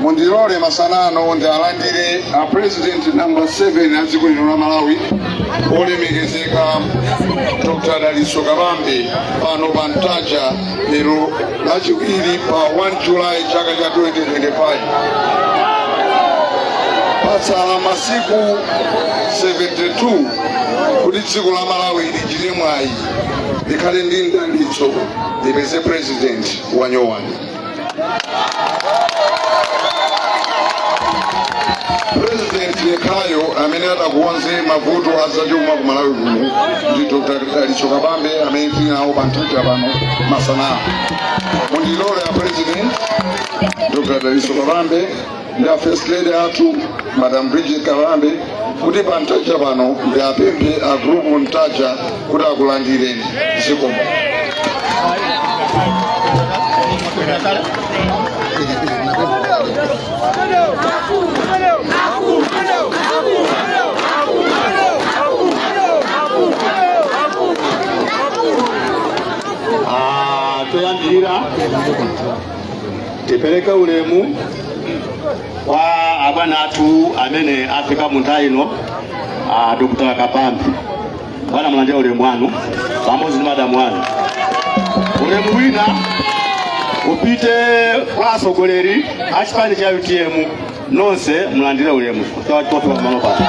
mundilole masana ano ndi alandire a president number 7 a dziko lino la malawi olemekezeka dr dalitso kabambe pano pa ntaja lero lachiwiri pa 1 julayi chaka cha 2025 patsala masiku 72 kuti dziko la malawi lichite mwayi likhale ndi mdalitso lipeze president wanyowani President yekhayo amene atakonze mavuto azachuma ku Malawi kuno ndi Dr. Dalitso Kabambe amene tili nawo pa Ntaja pano masana. Mundilole a President Dr. Dalitso Kabambe ndi a first lady athu madam bridget kabambe kuti pa ntaja pano ndi apemphe a group ntaja kuti akulandireni zikomo Ah, poyambirira tipereke ulemu kwa abwana athu amene afika mu ntaja muno a dr kabambe bwana mulandire ulemu wanu pamodzi ndi madamu wanu ulemu wina upite kwa atsogoleri a chipani cha utm nonse mulandire ulemu pofika pamalo pano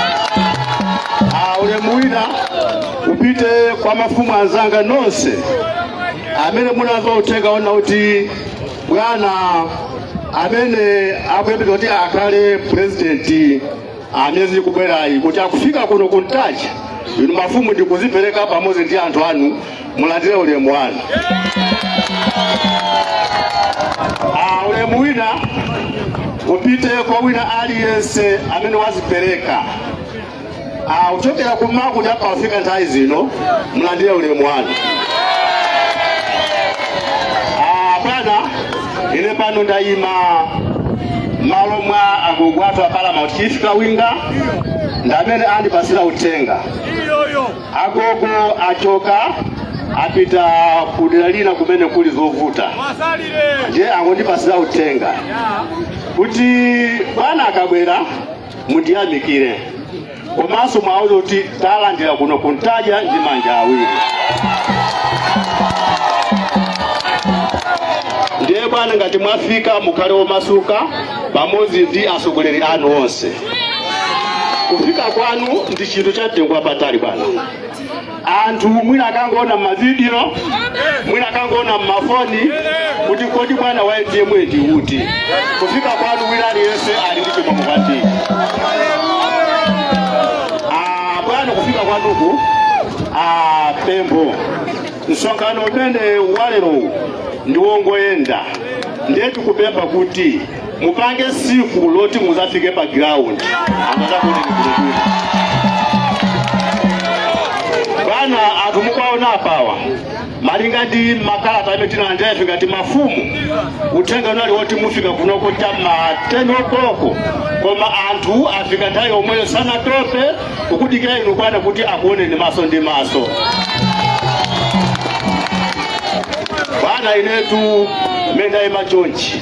Ah, ulemu wina upite kwa mafumu anzanga nonse amene munamva uthenga wonena kuti bwana amene akuyembekeza kuti akhale purezidenti amiyezi ikubwerayi kuti akufika kuno ku Ntaja inu mafumu ndi kuzipereka pamodzi ndi anthu anu mulandire ulemu wanu Ah, ulemu wina upite kwa wina aliyense amene wazipereka Ah, kuchokera kummawa kuti apa yafika nthawi zino mulandire ulemu wanu Ah, bwana ine pano ndayima malo mwa agogo athu a paramount chief kawinga ndamene andipasira uthenga agogo achoka apita kudera lina kumene kuli zovuta ndiye angondipasira uthenga kuti bwana akabwera mundiyamikire komanso muwauze kuti tawalandira kuno kuntaja ndi manja awiri ndiye bwana ngati mwafika mukhale omasuka pamodzi ndi atsogoleri anu onse kufika kwanu ndi chinthu cha mtengo wapatali bwana anthu mwina akangoona mmavidiyo mwina akangoona mmafoni kuti kodi bwana wa utm ndi uti kufika kwanu wina aliyense ali ndi chimwemwe kwambiri bwana kufika kwanuku pempho msonkhano umene walerowu ndiwongoyenda ndiye tikupempha kuti mupange siku loti muzafike pa ground amatakuni kulukulu bwana anthu mukaona apawa malinga ndi makalata amene tinalandira ife ngati mafumu uthenga unali woti mufika kunoko cha ma 10 o'clock koma anthu afika nthawi yomweyo sanatope kukudikira inu bwana kuti akuoneni maso ndi maso bwana inetu menda imachonchi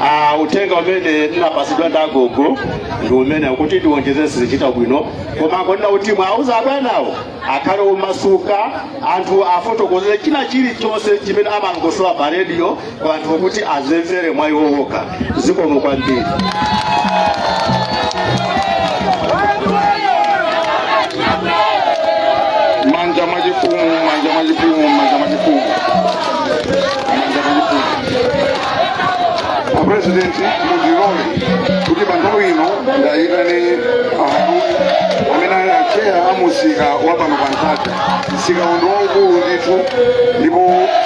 Ah, uthenga umene ndinapatsidwa ndi agogo ndi umene kuti tiwonjezere sizichita bwino koma akonena kuti muwauze abwanawo akhale omasuka anthu afotokozere china chilichonse chimene amalongosola pa rediyo kwa anthu kuti azimvere mwa iwo okha zikomo kwambiri manja mwachifumu manja mwachifumu manja mwachifumu apresidenti mundilole kuti pa nthawi ino ndiwayitane aharuni amene ali acheya a musika wa pano pa ntaja msika uno ndi waukulu ndithu ndipo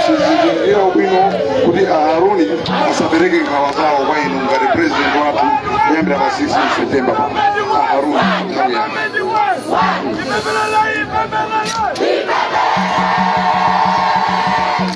ndi chinthu chabwino kuti aharuni azapereke nkhawa zawo kwa inu ngati president wathu kuyambira pa 16 september pano aharuni nthawi yanu Viva la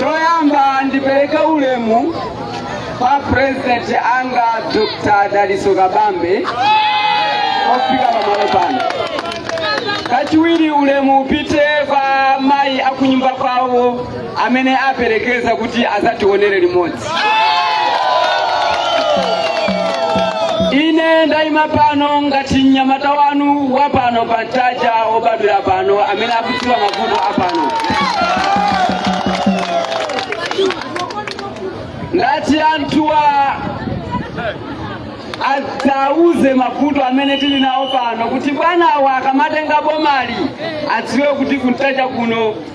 choyamba ndipereke ulemu kwa purezidenti anga dr dalitso kabambe ofika pamalo pano kachiwiri ulemu upite kwa mayi akunyumba kwawo amene aperekeza kuti azationere limodzi ine ndayima pano ngati mnyamata wanu wa pano pa mtaja obadwira pano amene akudziwa mavuto a pano ndati anthuwa ndizawuze mavuto amene tili nawo pano kuti bwanawa akamatenga bomali adziwe kuti kumtaja kuno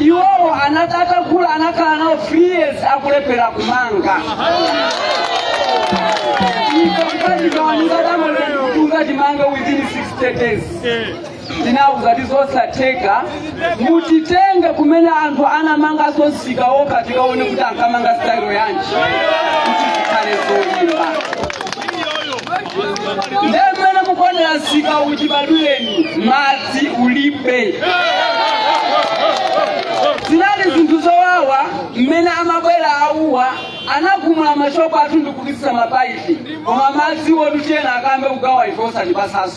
iwowo anati atagula anakhala nawo three years akulephera kumanga ikaiaaaunga timange within 60 days ndinauza ti zosatheka mutitenge kumene anthu anamanga msika okha tikaone kuti ankamanga style yanji kuti zikhale zolimba ndiye mmene mukuonera msika uchibadwire madzi ulibe zinali zinthu zowawa mmene amabwera awuwa anagumula mashopu athu ndikupitisa mapaipi koma madzi wo tuchena akambe kugawa ife osatipatsanso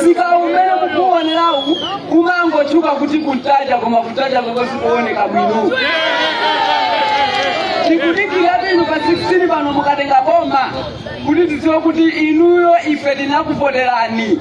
msika umene mukuonerawu kumangotchuka kuti ku ntaja koma ku ntaja kwake sikuoneka bwino tikudikira inu pa 16 pano mukatenga boma kuti tidziwe kuti inuyo ife tinakuvoterani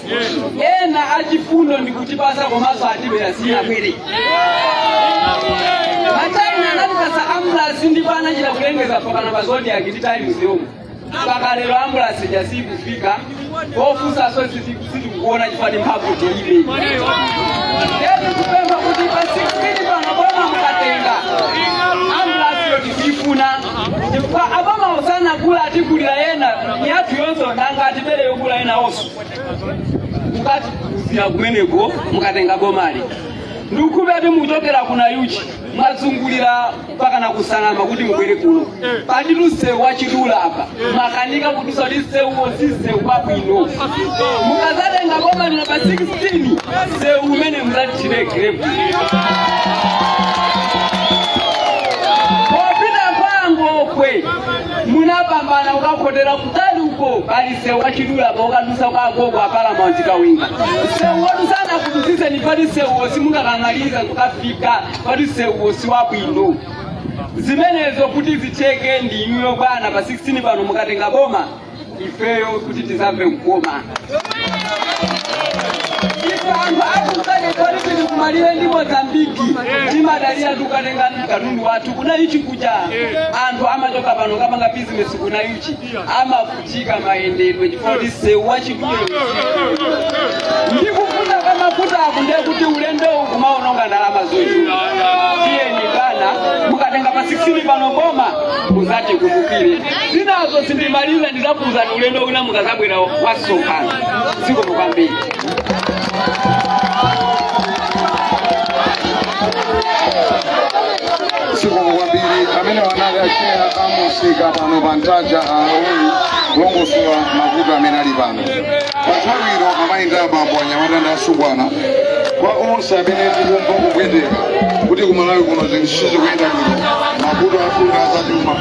ena achifundo ndi kutipatsa komanso atibera sinabwere achina anatipatsa ambulasi ndipo anachita kulengeza pakanema pa zodiak ndi times yomwe mpaka lero ambulasi ija sikufika kofunsanso sitikuona chifukwa mphamvu tilibe yetu kupempha kuti pa 16 pano boma mukatenga ambulasiyo tikuyifuna kwa abwana osanagula atigulire ina yathu yomwe sanga atibere yogula inanso mukatikuzira kumeneko mukatenga bomali ndikukhulupira kuti mukuchokera ku nayuchi mwazungulira mpaka na ku nsanama kuti mubwere kuno pali msewu wachidule apa mwakanika kudutsa kuti msewuwo si msewu wabwino mukazatenga bomali pa 16 msewu umenewu muzatithire grevulo popita kwa ngokwe munapambana ukakhotera kutali uko pali msewu wachidule apa ukadutsa kwa agogo apalamanti kawinga msewu wodutsana kudutsitseni pali msewuwo simungakwanitse kukafika pali msewu wo si wabwino zimenezo kuti zitheke ndi inuyo bwana pa 16 pano mukatenga boma ifeyo kuti tizamve kukoma ife anthu akusane kodi tili kumalire ndi mozambiki timadalira kukatenga katundu wathu ku nayuchi kuja anthu amachoka pano kukapanga bizinesi ku nayuchi amavutika mayendedwe chifukwa msewu wachidule ndikufuna kamafuta ako ndiye kuti ulendo kumaononga ndalama zochuluka tiyeni bwana mukatenga pa 16 pano boma muzatikumbukire zinazo sindimaliza ndizakuuzani ulendo wina mukazabwera wamsonkhano zikomo kwambiri zikomo kwambiri amene anali acheya amsika pano pa ntaja ali kulongosola mavuto amene ali pano pa nthawi ino amayi ndi abambo anyamata ndi asungwana kwa onse amene tikumva kupweteka kuti kumalawi kuno zinthu sizikuyenda bwino mavuto athu ndi azachuma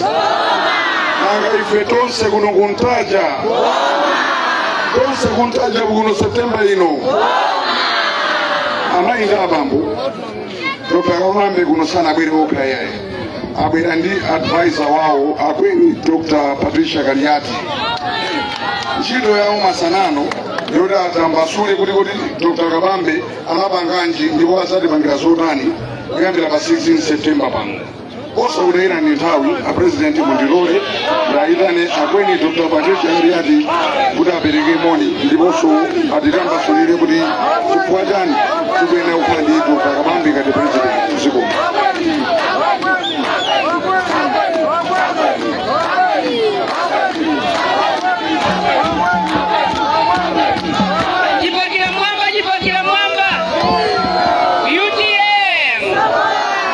nanga ife tonse kuno kuntaja tonse kuntaja kuno septemba ino amayi ndi abambo dr kabambe kuno sanabwere okha yaye abwera ndi advisor wawo akweni dr patricia kaliati ntchito yawo masanano yoti atambasule kuti kuti dr kabambe anapanganji ndipo adzatipangira zotani kuyambira pa 16 september pano osakutayirani nthawi apurezidenti mundilole ndayitane akweni dr patricia kaliati kuti apereke moni ndiponso atitambasulire kuti chifukwa chani tikuyenera kukhala ndi dr kabambe ngati purezidenti mdziko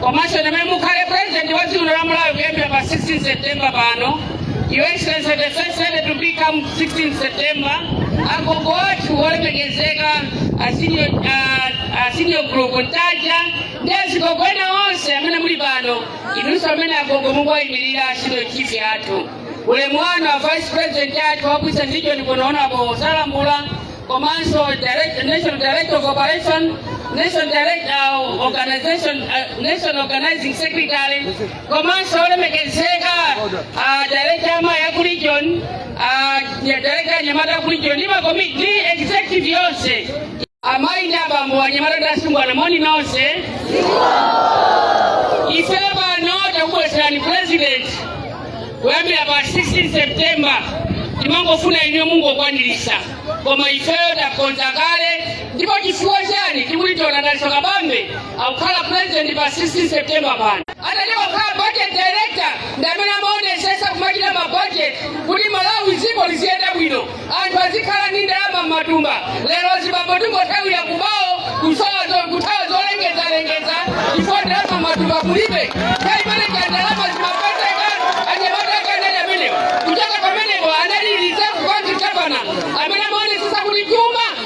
komanso inu amene mukhale president wa dziko la Malawi kuyambira pa 16 September pano Your Excellency the first lady to become 16 September agogo athu olemekezeka a senior a- a senior group ntaja ndi azigogo ena onse amene muli pano inunso amene agogo mukuwayimirira senior chief athu ulemu wanu a vice president athu wabwisa ndicho ndikuwaona apo salambula komanso direct, national director of operation national direct, uh, organization uh, national organizing secretary komanso olemekezeka uh, director amayi a ku region uh, director anyamata a ku region ndi makomiti ndi executive yonse amayi ndi abambo anyamata ndi asungwana moni nonse ife pano takubweretserani president kuyambira pa 16 september timangofuna inuyo mungokwaniritsa koma ifeyo takonza kale ndipo chifukwa chani tikuti Dalitso Kabambe akukhala president pa 16 september pano atayamba kukhala budget director ndi amene amaonesesa kumachita mabudget kuti malawi dziko liziyenda bwino anthu azikhala ndi ndalama m'matumba lero azibambo tingothawira kubawo kusowa zo- kuthawa zolengezalengeza chifukwa ndalama m'matumba mulibe nthawi imene ndalama zimapezeka anyamata akanali amenewo kuchoka pamenepo anali reserve bank governor amene amaonesesa kuti chuma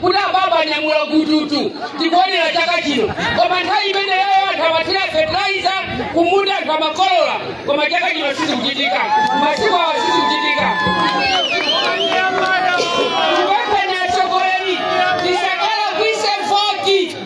kuti ababa anyamula gututu tikuonera chaka chino koma nthawi imeneyo anthu amathira fertilizer kumunda anthu amakolola koma chaka chino sizikuchitika masiku awa sizikuchitika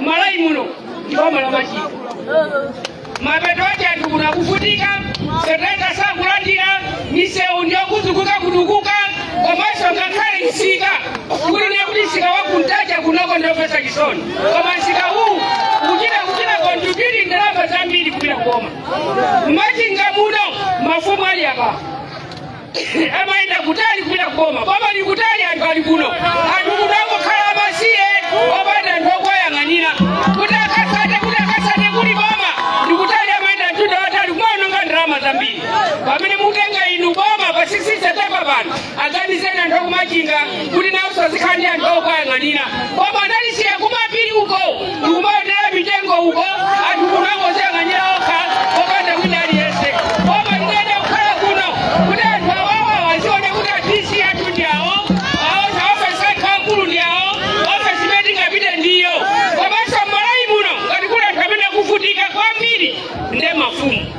mmalawi muno ndi boma la machinga mapeto ake anthu kuno akuvutika fertilizer sakulandira misewu ndiyokumbikakumbika komanso ngakhale msika kuli ndiye kuti msika wakuntaja kunoko ndiomvetsa chisoni koma msika uwu ukuchita kuchita contribute ndalama zambiri kupita kuboma mmachinga muno mafumu ali apa amayenda kutali kupita kuboma boma ndi kutali anthu ali kuno anthu kuno angokhala amasiye opanda anthu owayang'anira kuti akasake kuti akasake kuli boma ndikutali amayenda mtunda watali kumaononga ndalama zambiri pamene mutenga inu boma pa 16 septemba pano aganizeni anthu akumachinga kuti nawonso azikhala ndi anthu owayang'anira boma analisiya kumapiri uko ndikumaonera mitengo uko anthu kuno angoziyang'anira okha popanda wina aliyense boma liyenera kukhala kuno kuti anthu awawa aziona kuti adisi athu ndi awo awo zaofesi athu akulu ndi awo ofesi imene tingapite ndi iyo komanso mmalawi muno ngati kuli anthu amene akuvutika kwambiri nde mafumu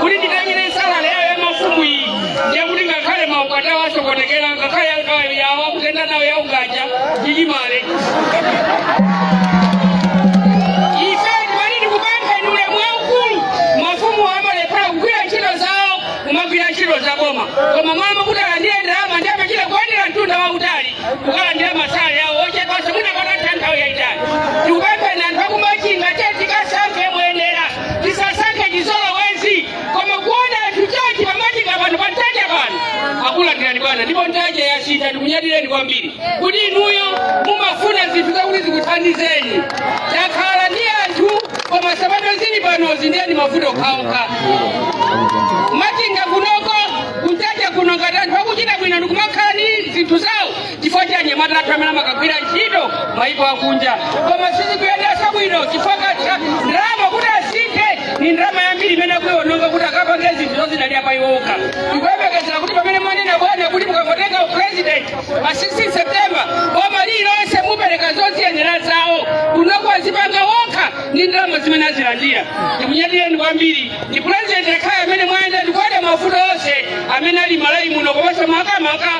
kuti nditengere salale yawo ya mafumu iyi ndiye kuti ngakhale maukwati awo asokonekera ngakhale angayo yawo akutenda nawo ya ukaja chichimale ife timati tikupempha inu ulemu waukulu mafumu amalephera kugwira ntchito zawo kumagwira ntchito za boma koma mama kuti alandire ndalama ndiye amachita kuyendera mtunda wautali kukalandira masalale awo ochepanso mwina patatha nthawi yayitali tikupempheni anthu akumachinga titikasankhe tisasankhe chizolowezi koma kuona anthu chonchi pamachinga pano pa ntaja pano akulandirani bwana ndipo ntaja yasintha tikunyadireni kwambiri kuti inuyo mumafuna zinthu zakuti zikuthandizeni takhala ndi anthu kwa masabata zili panozi ndiye ndi mavuto okhaokha machinga kunoko kuntaja kuno ngati anthu akuchita bwino ndikumakhala ndi zinthu zawo chifukwa cha anyamata athu amene amakagwira ntchito maiko akunja koma sizikuyendanso bwino chifukwa ka- ndalama kuti asinthe ni ndalama yambiri imene akuiononga kuti akapange zinthu zozidalira pa iwo okha tikuyembekezera kuti pamene mwanena bwana kuti mukangotenga upresident pa 16 september boma lililonse mupereka zoziyenera zawo kunoko azipanga wokha ndi ndalama zimene azilandira tikunyadireni kwambiri ndi president yekhayo amene mwayenda ndikuona mavuto onse amene ali mmalawi muno komanso makamaka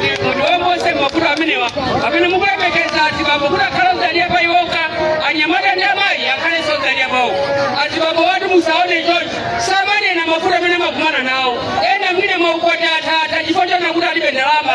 mutiwombole mavuto amenewa pamene mukulemekeza azibambo kuti akhale odzidalira pa iwo okha anyamata ndi amayi akhalenso odzidalira pawo azibambo awa ati musaone chonchi samanena mavuto amene amakumana nawo ena mwina maukwati atatha chifukwa chonena kuti alibe ndalama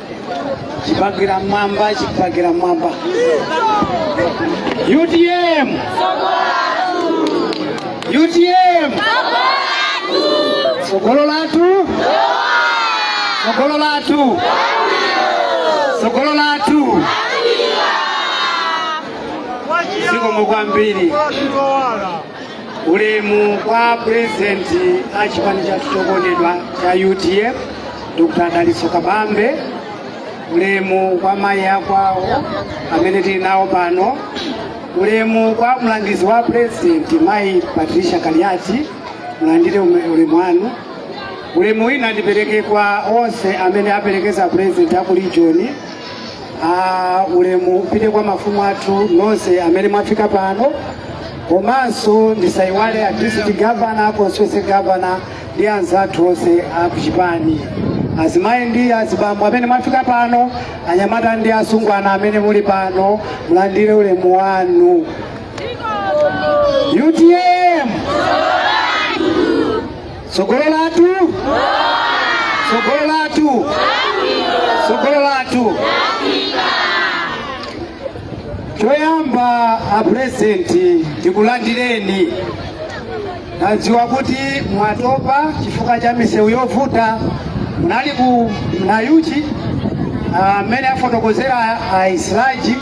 chipaka mmwamba chipaka mmwamba utm utm tsogolo lathu tsogolo lathu tsogolo lathu zikomo kwambiri Ulemu kwa President a chipani cha chokondedwa cha UTM Dr. Dalitso Kabambe, ulemu kwa mayi akwawo amene tili nawo pano, ulemu kwa mlangizi wa President mayi Patricia Kaliati, mulandire ume- ulemu wanu. Ulemu wina ndipereke kwa onse amene aperekeza President aku region ulemu upite kwa mafumu athu nonse amene mwafika pano komanso ndisayiwale a district governor constituency governor ndi anzathu onse a kuchipani azimayi ndi azibambo amene mwafika pano anyamata ndi asungwana amene muli pano mulandire ulemu wanu utm tsogolo lathu tsogolo lathu tsogolo lathu choyamba apurezidenti tikulandireni nadziwa kuti mwatopa chifukwa cha misewu yovuta munali ku nayuchi amene afotokozera aisilaji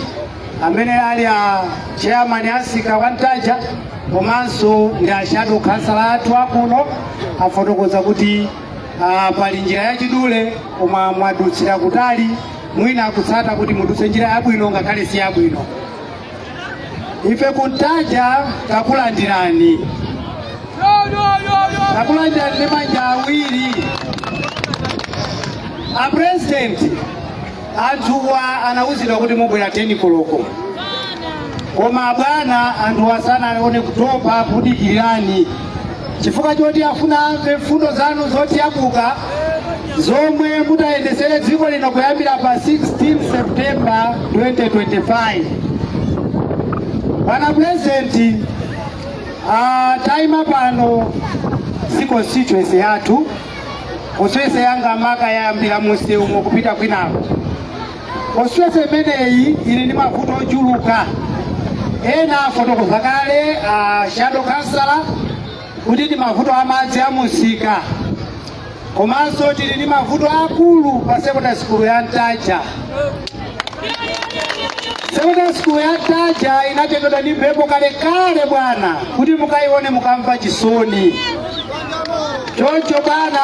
amene ali a chairman a msika wa Ntaja komanso ndi a shadow councillor athu akuno afotokoza kuti ah, pali njira yachidule koma mwadutsira kutali mwina akutsata kuti mudutse njira yabwino ngakhale si yabwino ife kuntaja takulandirani takulandirani ndi manja awiri a president anthuwa anawuzidwa kuti mubwera 10 koloko koma bwana anthuwa sanaone kutopa kudikirirani chifukwa choti afuna amve mfundo zanu zotiyabuka zomwe mutayendesere dziko lino kuyambira pa 16 septemba 2025 bwana purezidenti ah, tayima pano si constituency yathu constituency yanga maka yayambira munsewumu kupita kwinako constituency imeneyi ili ndi mavuto ochuluka ena afotokoza kale a shadow councillor kuti ndi mavuto a madzi a munsika komanso tili ndi mavuto akulu pa sekondari sikulu ya ntaja sekondari sikulu ya ntaja inatengedwa ndi mphepo kalekale bwana kuti mukayione mukamva chisoni choncho bwana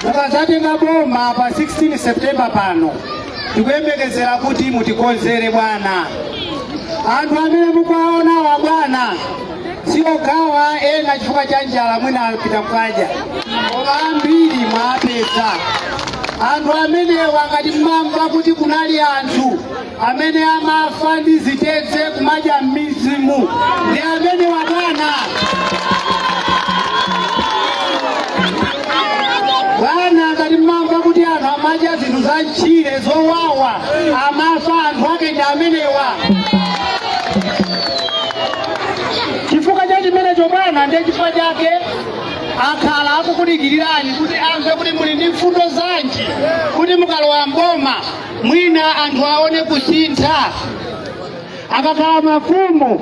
mukazatenga boma pa 16 septemba pano tikuyembekezera kuti mutikonzere bwana anthu amene mukuwaonawa bwana siokhawa ena chifukwa cha njala mwina apita kukadya koma ambiri mwawapeza anthu amenewa ngati mmamva kuti kunali anthu amene amafa ndi zitedze kumadya mizimu ndi amenewa bwana bwana ngati mmamva kuti anthu amadya zinthu za mtchire zowawa amafa anthu ake ndi amenewa chifukwa cha chimenecho bwana ndiye chifukwa chake akhala akukudikilirani kuti amve kuti muli ndi mfundo zanji kuti mukalowa mboma mwina anthu aone kusintha akakhala mafumu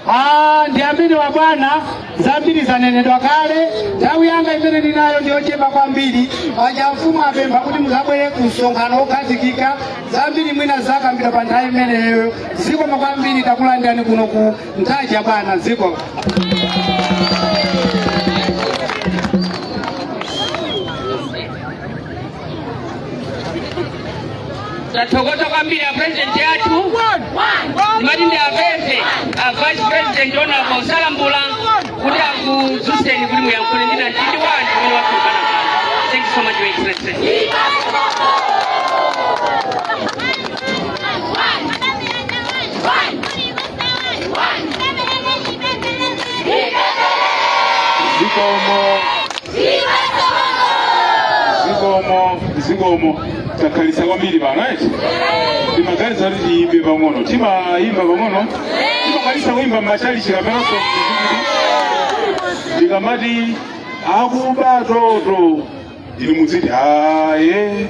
Ah, ndi amenewa bwana zambiri zanenedwa kale nthawi yanga imene ndinayo ndiyochepa kwambiri paja amfumu apempha kuti muzabwerere ku msonkhano wokhazikika zambiri mwina azakambira pa nthawi imeneyo zikomo kwambiri takulandirani kuno ku ntaja bwana ziko tathokoza kwambiri a president athu ndimati ndiwapemphe a vice president honorable salambula kuti akudzutseni kuti muyankhule ndi namtindi wa anthu umene wakhamukira pano thank you so much your excellency One. zikomo zikomo zikomo takhalitsa kwambiri pano eti timaganiza kuti tiyimbe pang'ono timayimba pang'ono timakwanisa kuyimba mmachalichi kapenanso tikamati akuba toto inu mudziti aye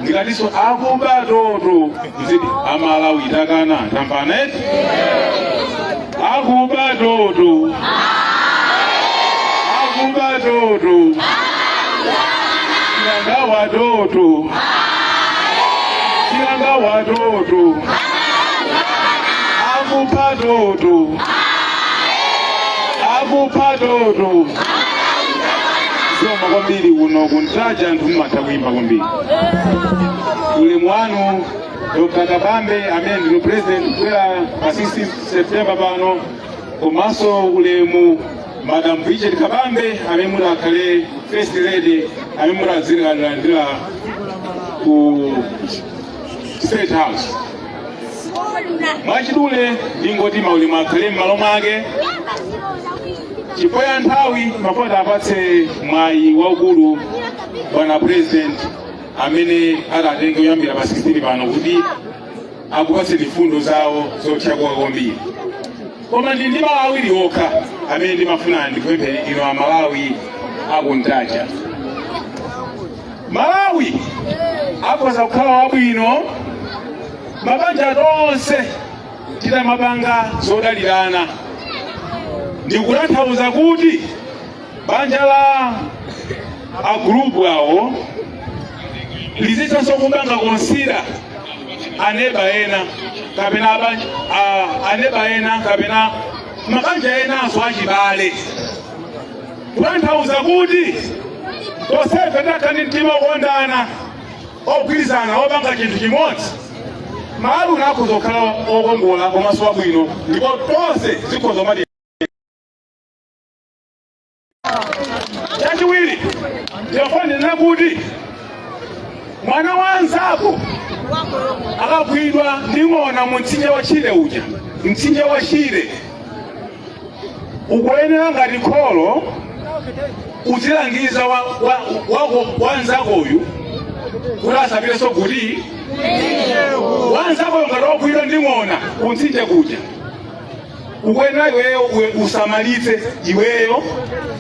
ndikatiso akuba toto mudziti amalawi takana tamvana eti akuba toto akuba toto achinyengo toto achinyengo toto akuba toto akuba toto zikomo kwambiri kuno kuntaja anthu mmatha kuimba kwambiri ulemu wanu dr kabambe amene ndinu president kubwera pa 16 september pano komanso ulemu madam bridget kabambe amene mutadzakhale first lady amene mutadzatilandira ku state house mwachidule ndingoti maulemu akhale m'malo mwake chifukwa cha nthawi ndimafuna ndiwapatse mwayi waukulu bwana president amene atatenge boma kuyambira pa 16 pano kuti akupatse mfundo zawo zothyakuka kwambiri koma ndi ndi mawu awiri okha amene ndimafuna ndikupempheni inu amalawi akuntaja malawi akhoza kukhala wabwino mabanja tonse titamapanga zodalirana ndikutanthauza kuti banja la agulupuwo lizithanso kupanga konsira aneba ena kapena abanja, a, aneba ena kapena mabanja enanso achibale kutanthauza kuti tonsefe titakhala ndi mtima wokondana ogwirizana wopanga chinthu chimodzi malawi akhoza kukhala wokongola komanso wabwino ndipo tonse zikhoza mati chachiwiri ndifuna kunena kuti mwana wa nzako akagwidwa ndi ng'ona mu mtsinje wa shire uja mtsinje wa shire ukuyenera ngati kholo uzilangiza wa- wa- wako wanzakoyu kuti asapitenso kuti wanzakoyo ngati wagwidwa ndi ng'ona kuntsinje kuja ukuyenera iweyo uwe- usamalitse iweyo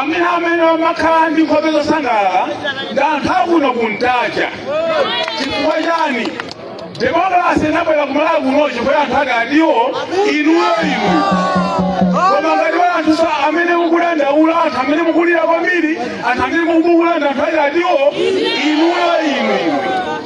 anthu amene amakhala ndi nkhope zosangalala ndi anthu akuno kuntaja chifukwa chani demokrasi inabwera kumalawi kuno chifukwa anthu ake ndinu inuyo inu koma ngati pali anthu amene mukudandaula anthu amene mukulira kwambiri anthu amene mukubuula anthu ake ndinu inuyo inu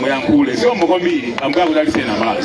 muyankhule zikomo kwambiri ambuye akudalitseni amalawi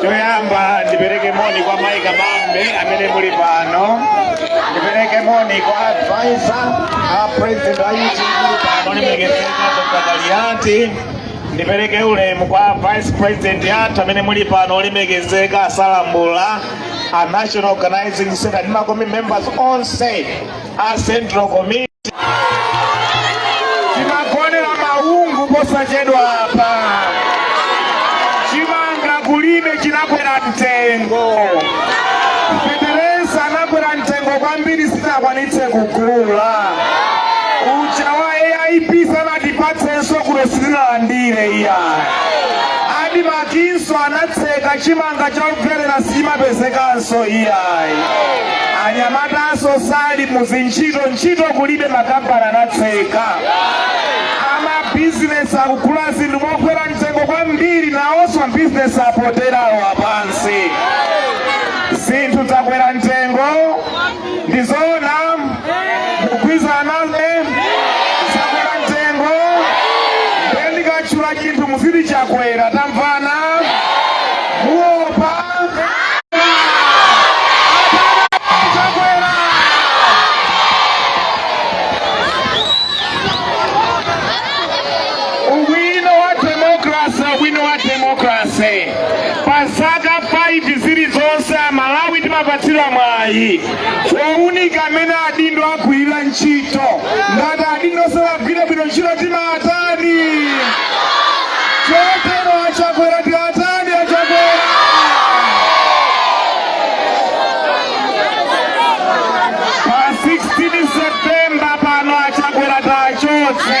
choyamba ndipereke moni kwa mayi kabambe amene muli pano ndipereke moni kwa advisor a president a utv pano olemekezeka dr kaliati ndipereke ulemu kwa vice president athu amene muli pano olemekezeka asalambula a national organizing secretary ndi ma committee members onse a Central Committee timagonera maungu posachedwa apa chimanga kulibe chinakwera mtengo feteleza anakwera mtengo kwambiri sitakwanitse kugula uja wa aip sanatipatsenso kuno sitinalandire iyayi adimakinso anatseka chimanga chobwerera sichimapezekanso iyayi anyamatanso sali muzintchito ntchito kulibe makampani anatseka amabizinesi akugula zinthu mokwera mtengo kwambiri nawonso mabizinesi apoteropo apansi zinthu zakwera mtengo ndi zoona mukugwirizana nazo zakwera mtengo nde ndikatchula chinthu muziti chakwera tamvana muopa ubwino wa demokrasi ubwino wa demokrasi pa zaka 5 zilizonse amalawi timapatsidwa mwayi wounika mmene adindo agwirira ntchito ngati adindo sanagwire bwino ntchito timatani chotero achakwera tiwatani achakwera pa 16 septemba pano achakwera tiwachotse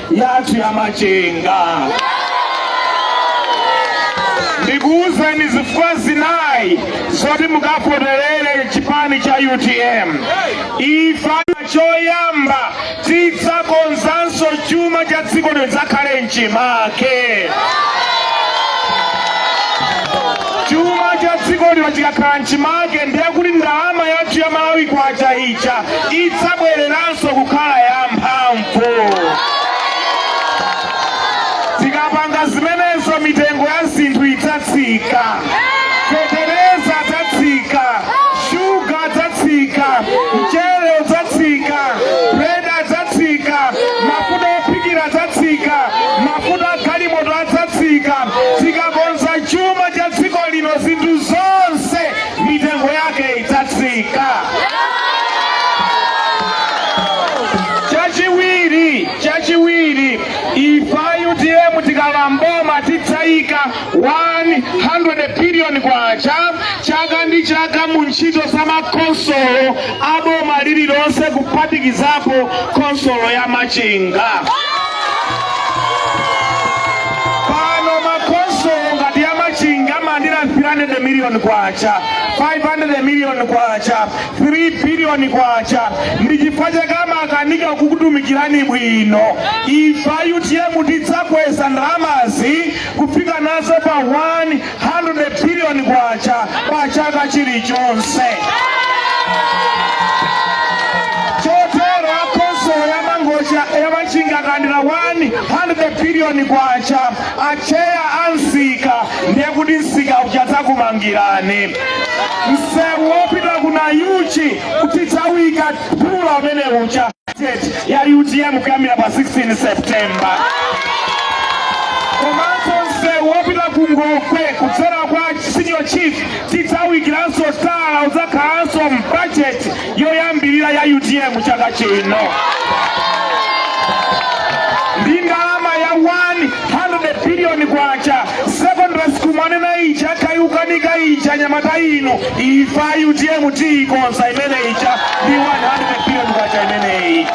yathu ya machinga ndikuwuzeni zifukwa zinayi zoti mukavoterere chipani cha utm ife choyamba tidzakonzanso chuma cha dziko lino chidzakhale m'chimake chuma cha dziko lino chikakhala m'chimake ndiye kuti ndalama yathu ya malawi kwacha ija idzabwereranso kukhala ya mphamvu tikapanga zimenezo mitengo ya zinthu idzatsika feteleza adzatsika shuga adzatsika mchere udzatsika bread adzatsika mafuta ophikira adzatsika mafuta agalimoto adzatsika tikakonza chuma cha dziko lino zinthu zonse mitengo yake idzatsika chachiwiri ife utm tikalowa m'boma tidzayika 100 billion kwacha chaka ndi chaka mu ntchito za makhonsolo a boma lililonse kuphatikizapo khonsolo ya machinga pano makhonsolo ngati ya machinga amalandira 300 million kwacha 500 million kwacha 3 biliyoni kwacha ndi chifukwa chake amakanika kukutumikirani bwino ife a utm tidzakweza ndalamazi kufika nazo pa 100 biliyoni kwacha pa chaka chilichonse chotero akonsolo ya mangochi ya machinga kulandira 100 biliyoni kwacha acheya a msika ndiye kuti msika uja adzakumangirani msewu wopita ku nayuchi tidzauika phula umene uja ya utm kuyambira pa 16 septemba komanso msewu wopita ku ngokwe kudzera kwa senior chief tidzauikiranso tala udzakhalanso mu bajeti yoyambirira ya utm chaka chino ndi ndalama ya 100 biliyoni kwacha secondary school mwanena ija ikuyikanika ija anyamata inu ife a utm tiikonza imene ija ndi 100 biliyoni kwacha imeneyi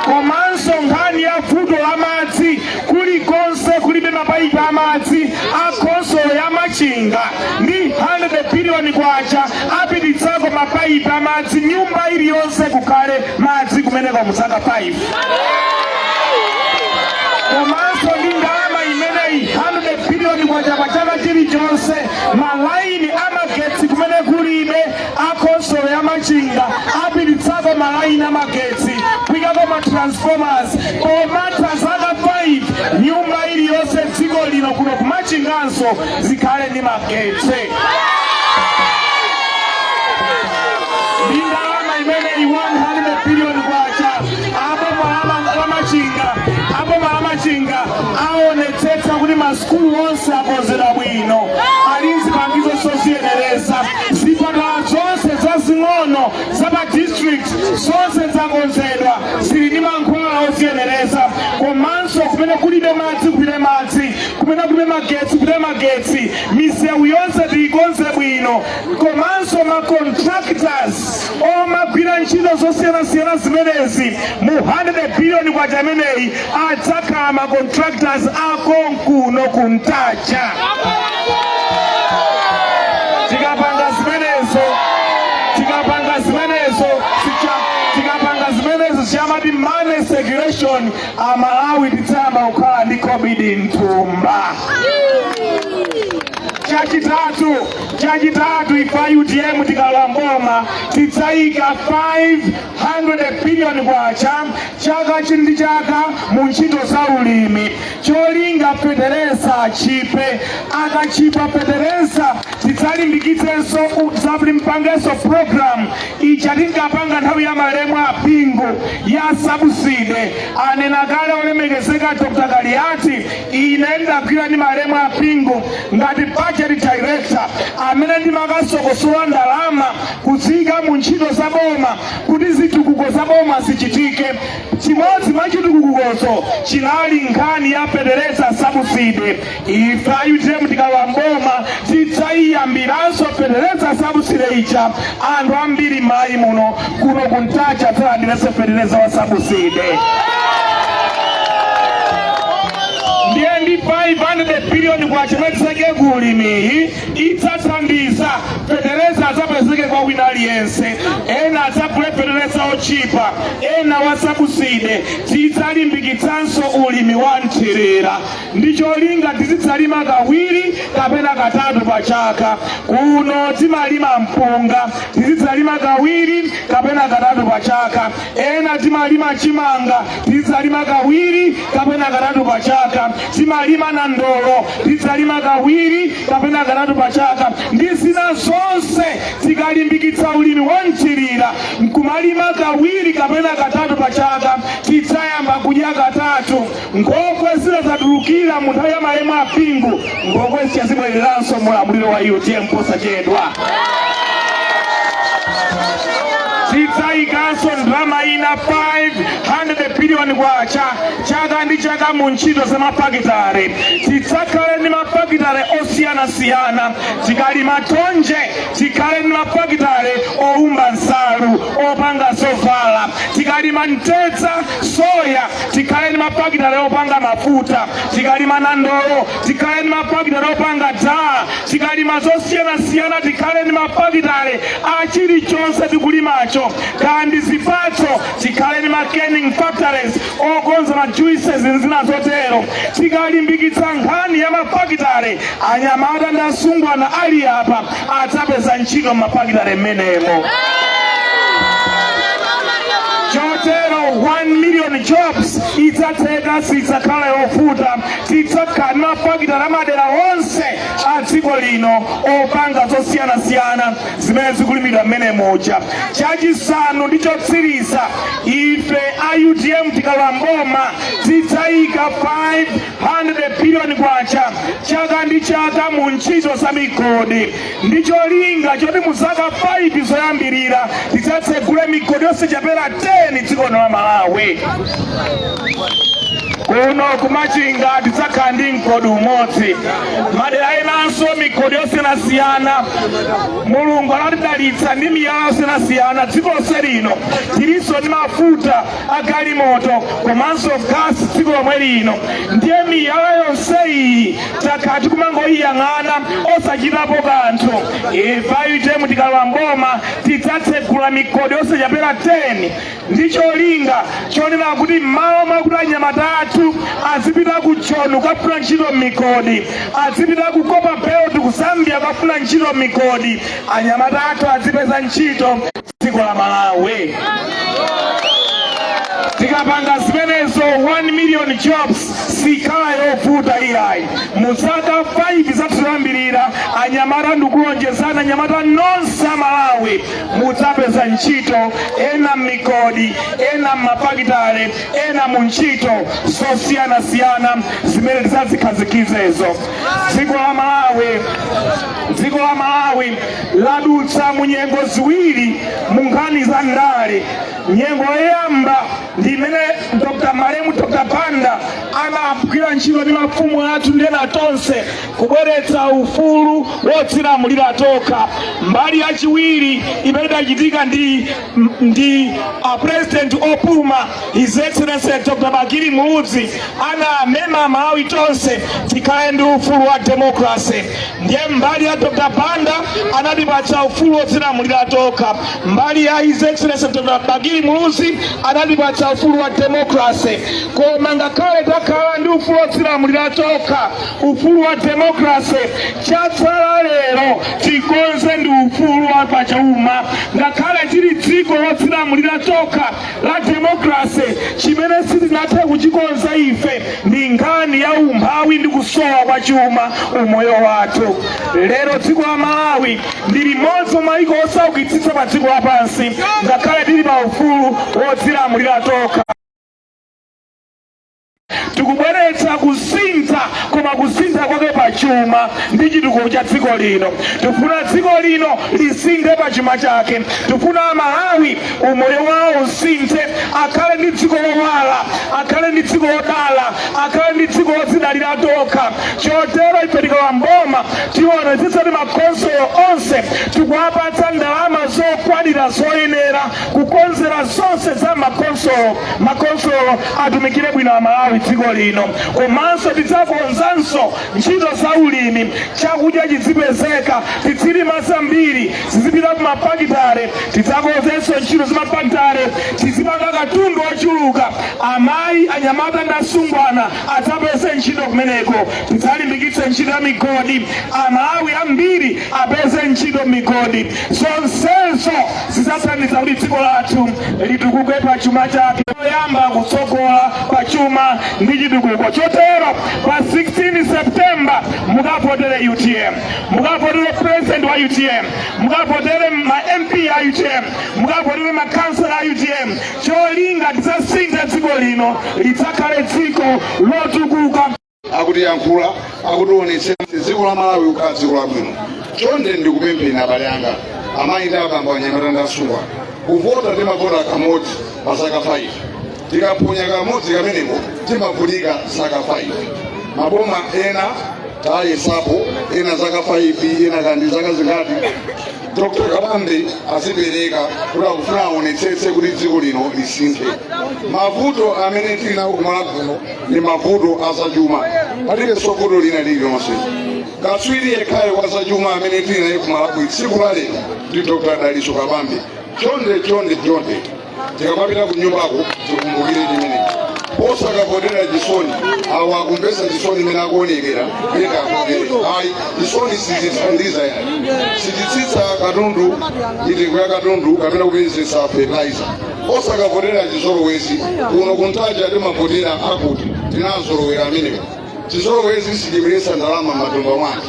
komanso nkhani ya vuto la madzi kulikonse kulibe mapaipi amadzi a khonsolo ya machinga ndi 100 biliyoni kwacha apititsako mapaipi amadzi nyumba iliyonse kukhale madzi kumeneko muzaka 5 komanso ndi ndalama imeneyi 100 biliyoni kwacha pa chaka chilichonse malaini amagetsi kumene kulibe akhonsolo ya machinga apititsako malaini a magetsi kuikako ma transformers pomatha zaka 5 nyumba iliyonse dziko lino kuno kumachinganso zikhale ndi magetsi ndi ndalama imeneyi 100 billion kwacha apa boma la machinga aboma la machinga aonetsetsa kuti masukulu onse akonzedwa bwino ali ndi zipangizo zoziyenereza Zipatala zonse zazing'ono za pa district zonse zakonzedwa zili ndi mankhwala oziyenereza komanso kumene kulibe madzi kupite madzi kumene kulibe magetsi kupite magetsi misewu yonse tiyikonze bwino komanso ma contractors omagwira ntchito zosiyanasiyana zimenezi mu 100 billion kwacha imeneyi adzakhala ma contractors akonkuno ku ntaja tikapanga zimenezo tikapanga zimenezo sicha- tikapanga zimenezo sicha amati money circulation amalawi tidzayamba kukhala ndi khobidi mthumba chachitatu chachitatu ife a utm tikalowa mboma tidzayika 500 biliyoni kwacha chaka ndi chaka mu ntchito za ulimi cholinga fetereza achipe akachipa fetereza tidzalimbikitsenso mpangenso program ija tinkapanga nthawi ya malemu a bingu ya sabuside anena kale olemekezeka dr kaliati ine ndagwira ndi malemu a bingu ngati budget director amene ndimakasokosola ndalama kudziyika mu ntchito za boma kuti zitukuko za boma zichitike chimodzi mwa chitukukozo chinali nkhani ya fetereza sabuside ife a utm tikalowa mboma tidzayiyambiranso fetereza sabuside ija anthu ambiri mmayiko muno kuno kumtaja adzalandirenso fetereza wa sabuside ndiye ndi 500 biliyoni kwacha imene tidzaike ku ulimiyi idzathandiza fetereza adzapezeke kwa wina aliyense ena adzagule fetereza otchipa ena wa sabuside tidzalimbikitsanso ulimi wa mthirira ndi cholinga tizidzalima kawiri kapena katatu pa chaka kuno timalima mpunga tizidzalima kawiri kapena katatu pa chaka ena timalima chimanga tizidzalima kawiri kapena katatu pa chaka timalima nandolo tizidzalima kawiri kapena katatu pa chaka ndi zina zonse tikalimbikitsa ulimi wa mthirira nkumalima kawiri kapena katatu pa chaka tidzayamba kudya katatu nkhokwe zinadzadza tulukira mu nthawi ya malemu a bingu nkhokwe zija zibweleranso mu ulamuliro wa utm posachedwa tidzayikanso ndalama ina 500 biliyoni kwacha chaka ndi chaka mu ntchito za mafakitare tidzakhale ndi mafakitare osiyanasiyana tikalima thonje tikhale ndi mafakitare owumba nsalu opanga zovala tikalima mtedza soya tikhale ndi mafakitale opanga mafuta tikalima nandolo tikhale ndi mafakitale opanga dal tikalima zosiyanasiyana tikhale ndi mafakitale a chilichonse tikulimacho kaya ndi zipatso tikhale ndi ma canning factories okonza ma juices ndi zina zotero tikalimbikitsa nkhani ya mafakitale anyamata ndi asungwana ali apa adzapeza ntchito m'mafakitale m'menemo chotero 1 million jobs idzatheka sidzakhala yovuta tidzakhala ndi mafakitale mmadera onse a dziko lino opanga zosiyanasiyana zimene zikulimidwa mmenemuja chachisanu ndi chotsiriza ife a utm tikalowa mboma tidzayika 5 100 billion kwacha chaka ndi chaka mu ntchito za migodi ndi cholinga choti mu zaka 5 zoyambirira tidzatsegule migodi yosachepera 10 dziko la Malawi kuno kumachinga tidzakhala ndi mgodi umodzi madera enanso migodi yosiyanasiyana mulungu anatidalitsa ndi miyala yosiyanasiyana dziko lonse lino tilinso ndi mafuta agalimoto komanso gasi dziko lomwe lino ndiye miyala yonse iyi takhala tikumangoyiyang'ana osachitapo kanthu ife a UTM tikalowa mboma tidzatsegula migodi yosachepera 10 ndi cholinga chonena kuti m'malo mwakuti anyamata athu azipita ku joni kukafuna ntchito m'migodi azipita ku copperbelt ku zambia kukafuna ntchito m'migodi anyamata athu azipeza ntchito dziko la malawi tikapanga zimenezo 1 million jobs sikhala yovuta iyayi mu zaka 5 zathu zoyambirira anyamata ndikulonjezani anyamata nonse a malawi mudzapeza ntchito ena m'migodi ena m'mafakitale ena mu ntchito zosiyanasiyana zimene tidzazikhazikitsezo dziko la malawi dziko la malawi ladutsa mu nyengo ziwiri mu nkhani za ndale nyengo yoyamba ndi imene dr malemu dr banda anagwira ntchito ndi mafumu athu ndi ena tonse kubweretsa ufulu wodzilamulira tokha mbali yachiwiri imene idachitika ndi ndi a president opuma his excellency dr bakili muluzi anamema amalawi tonse tikhale ndi ufulu wa democracy ndiye mbali ya dr banda anatipatsa ufulu wodzilamulira tokha mbali ya his excellency dr bakili muluzi anatipatsa ufulu wa democracy koma ngakhale takhala ndi ufulu wodzilamulira tokha ufulu wa demokrase chatsala lero tikonze ndi ufulu wa pachuma ngakhale tili dziko lodzilamulira tokha la demokrase chimene sitinathe kuchikonza ife ndi nkhani ya umphawi ndi kusowa kwa chuma umoyo wathu lero dziko la malawi ndi limodzi mwa maiko osaukitsitsa pa dziko lapansi ngakhale tili pa ufulu wodzilamulira tokha tikubweretsa kusintha koma kusintha kwake pa chuma ndi chitukuko cha dziko lino tifuna dziko lino lisinthe pa chuma chake tifuna amalawi umoyo wawo usinthe akhale ndi dziko lowala akhale ndi dziko lodala akhale ndi dziko lodzidalira tokha chotero ife tikalowa mboma tionetsetsa kuti makonsolo onse tikuwapatsa ndalama zokwanira zoyenera kukonzera zonse za makonsolo makonsolo atumikire bwino amalawi dziko lino komanso tidzakonzanso ntchito za ulimi chakudya chizipezeka tizilima zambiri zizipita ku mafakitale tidzakonzenso ntchito za mafakitale tizipanga katundu wochuluka amayi anyamata ndi asungwana adzapeze ntchito kumeneko tidzalimbikitse ntchito ya migodi amalawi ambiri apeze ntchito m'migodi zonsezo zidzathandiza kuti dziko lathu litukuke pa chuma chake poyamba kutsogola pa chuma ndi chitukuko chotero pa 16 september mukavotere utm mukavotere president wa utm mukavotere ma mp a utm mukavotere makansela a utm cholinga tidzasinthe dziko lino lidzakhale dziko lotukuka akutiyankhula akuti aonetsetse dziko la malawi kukhala dziko labwino chonde ndikupempheni abale anga amayi ndi abambo anyamata ndi asungwana kuvota timavota kamodzi pa zaka 5 tikaphonya kamodzi kameneko timavutika zaka 5 maboma ena tayesapo ena zaka 5 ena kaya ndi zaka zingati dr kabambe adzipereka kuti akufuna aonetsetse kuti dziko lino lisinthe mavuto amene tili nawo ku malawi kuno ndi mavuto a zachuma palibenso vuto lina lililonse katswiri yekhayo wa zachuma amene tili naye ku malawi tsiku la lero ndi dr dalitso kabambe chonde chonde chonde tikamapita ku nyumbako tikumbukire chimenechi osakavotera chisoni awo akumvetsa chisoni mmene akuonekera kuleka akuvere ayi chisoni sichithandiza ayi sichitsitsa katundu mitengo ya katundu kapena kupezetsa fertilizer osakavotera chizolowezi kuno ku ntaja timavotera akuti tinazolowera amenewo chizolowezi sichibweretsa ndalama m'matumba mwake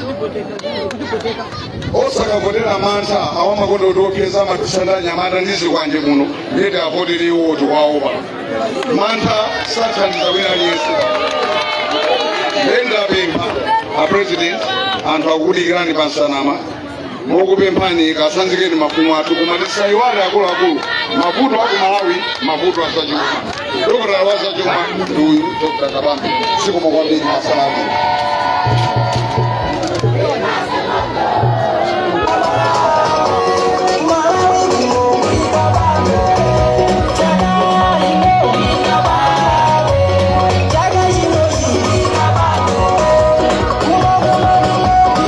osakavotera mantha awa amakonda kutiopseza amatisaka ndi anyamata ndi zikwanje muno ndiye tiwavotere iwo tiwaopa mantha sathandiza wina aliyense nde ndapempha a president anthu akudikirani pa nsanamira mokupemphani katsanzikeni mafumu athu koma tisaiwale akuluakulu mavuto aku malawi mavuto azachuma dokotala wa zachuma ndi uyu dr kabambe zikomo kwambiri asalamu